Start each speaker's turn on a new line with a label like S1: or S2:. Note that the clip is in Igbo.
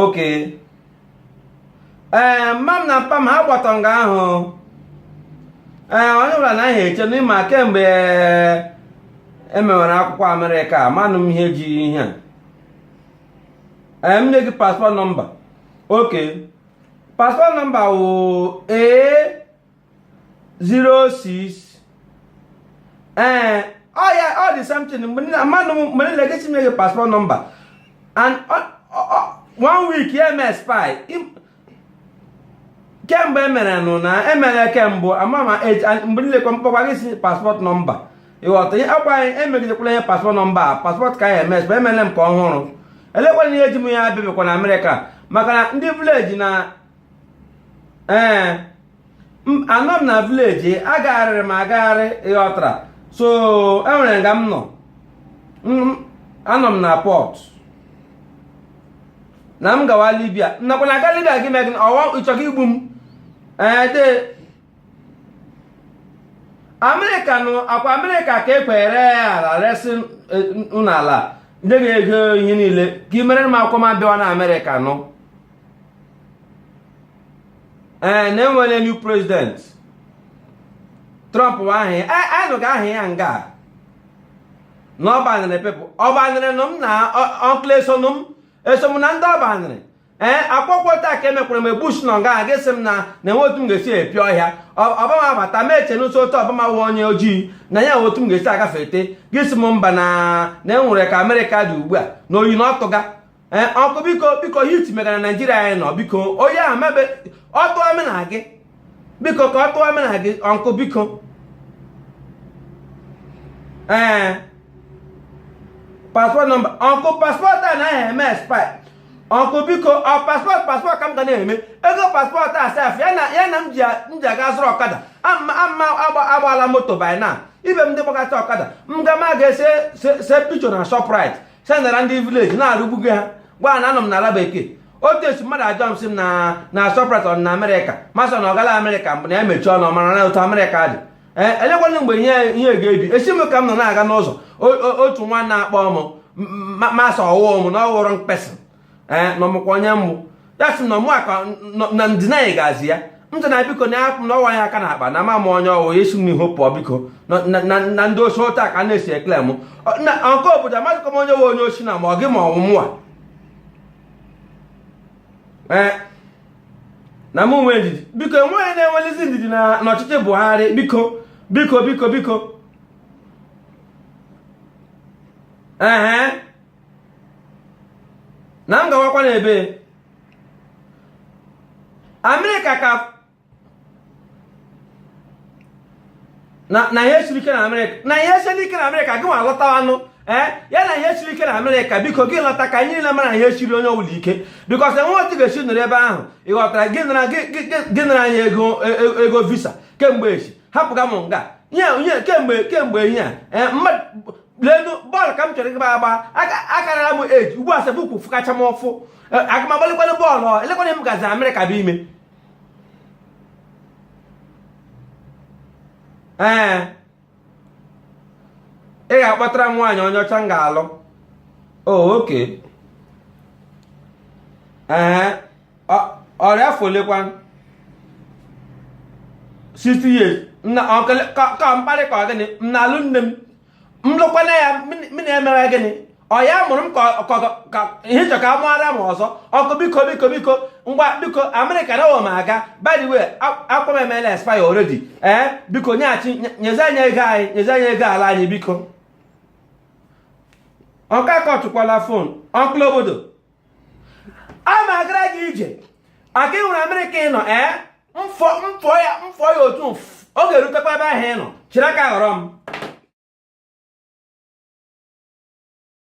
S1: oke ee mma m na mpa m ha gbata nga ahụ ee onye ọbụla na ahịa eche na ị ma kemgbe emewere akwụkwọ amerịka manụ m ihe ji ihe a ee m nye gị paspọt nọmba oke paspọt nọmba wụ ee 06 ee ọ ya ọ dị something mgbe nna mmadụ mgbe nna gị chinye gị paspọt nọmba and one week ya eme expire kemgbe emere nụ na emere kemgbe ama ma mgbe nile kwa mkpọkwa gị si paspọt nọmba ị ghọta ihe ọ kwa anyị emegidekwala ihe paspọt nọmba a paspọt nke anaghị eme expire emere m ka ọhụrụ elekwana ihe ji m ya abịabịakwa na amerịka maka na ndị vileji na ee eh, anọ m na vileji agagharịrị m agagharị ị ghọtara so enwere nga m nọ anọ m na pọt na m gawa libia nakwa na aga libia gị megị ọwa ị chọkwa igbu m ee eh, de amerịka nụ ọ kwa amerịka ka ekwere ya ala resị eh, n'ala ndị ga-ego ihe niile ka i mere m akwụkwọ m bịawanụ amerịka nụ ee na enwere new president trump bụ aha ya anyị nụga aha ya nga na ọ banịrị people ọ banịrị nụ m na ọnkụl esonụ m eso m na ndị ọ banịrị ee akwụkwọ taa ka e mekwara m mgbe bush nọ nga gị asị m na na enwe otu m ga-esi epio ọhịa ọbama abata mụ eche na sọ otu ọbama wụ onye ojii na ya enwe otu m ga-esi agafe ete gị sị m mba na na enwere ka amerịka dị ugbu a na oyi na ọ tụga ee ọnkụ biko biko heat megara naijiria anyị nọ biko oyi ahụ mebe ọ tụọ mụ na gị biko ka ọ tụọ mụ na gị ọnkụ biko ee paspọt nọmba ọnkụ paspọt a naghị eme expire ọnkụ biko ọ paspọt paspọt ka m ga na-eme ego paspọt a sef ya na ya na m ji a- m ji aga zụrụ ọkada ama ama agba- agbala moto by na ibe m ndị gbakọta ọkada m ga ma ga-ese se se picho na shoprite sendara ndị vileji na-arụgbugo ha gwa na anọ m n'ala bekee otu esi mmadụ ajụọ m sị m na na shoprite ọ na amerịka mụ asị na ọ gala amerịka mbụ na ya mechie ọnụ mara na otu amerịka dị ee elekwanụ mgbe ihe ihe ga-ebi esi m ka m nọ na-aga n'ụzọ o- o- otu nwa na-akpọ m masị ọ wụ mụ na ọ ghọrọ mkpesị ee na ọ mụkwa onye mmụ ya sị na ọ mụ aka na ndịna anyị ga-azị ya ntị na biko na apụ na ọwa ya aka na akpa na m ama onye ọ wụ esi m n'ihu pụọ biko na ndị osi ụta ka na-esi ekele m na nke obodo amadịkọ m onye nwe onye ọ sị na ma ọ gị ma ọ wụ mụwa ee na m nwee ndidi biko enweghị na-enwelizi ndidi na n'ọchịchị Buhari biko biko biko biko ee na m gawakwa n'ebe amerịka ka na ihe siri ike na amerịka na ihe siri ike na amerịka gị nwa lọtawanụ ee eh, ya na ihe siri ike na amerịka biko gị lọta ka anyị niile mara ihe siri onye ọbụla ike because enwe otu ị ga-esi nọrọ ebe ahụ ị ghọtara gị nara anyị e, e, ego visa kemgbe echi hapụga m nga nye kemgbe kemgbe ihe a eh, leenụ bọọlụ ka m chọrọ ịgba agba akarara m eji ugbu a sị bụ ụkwụ fụkacha m ụfụ e, aga m agbalikwanụ bọọlụ olekwanụ m gazi amerịka bụ ime ee ị ga-akpọtara m nwaanyị onye ọcha m ga-alụ oh, okay ọ rị afọ olekwa 60 years ka mkparị ka ọ gịnị m na-alụ nne m m lụkwanụ ya m na-emewe gịnị ọ ya mụrụ m ka ị chọ ka ọ mụọ m ọzọ okay biko biko biko ngwa biko amerịka na m aga by the way akwa m emela expire already ee eh, biko nyeghachi nyezie anyị ego anyị nyezie anyị ego ala anyị biko okay kọtụkwala phone uncle obodo a ma agara gị i ji aka ịhụrụ amerịka ị nọ ee m fụọ m fụọ ya m fụọ ya otu ọ ga-erutekwa ebe ahụ ị nọ chịrị aka ghọrọ m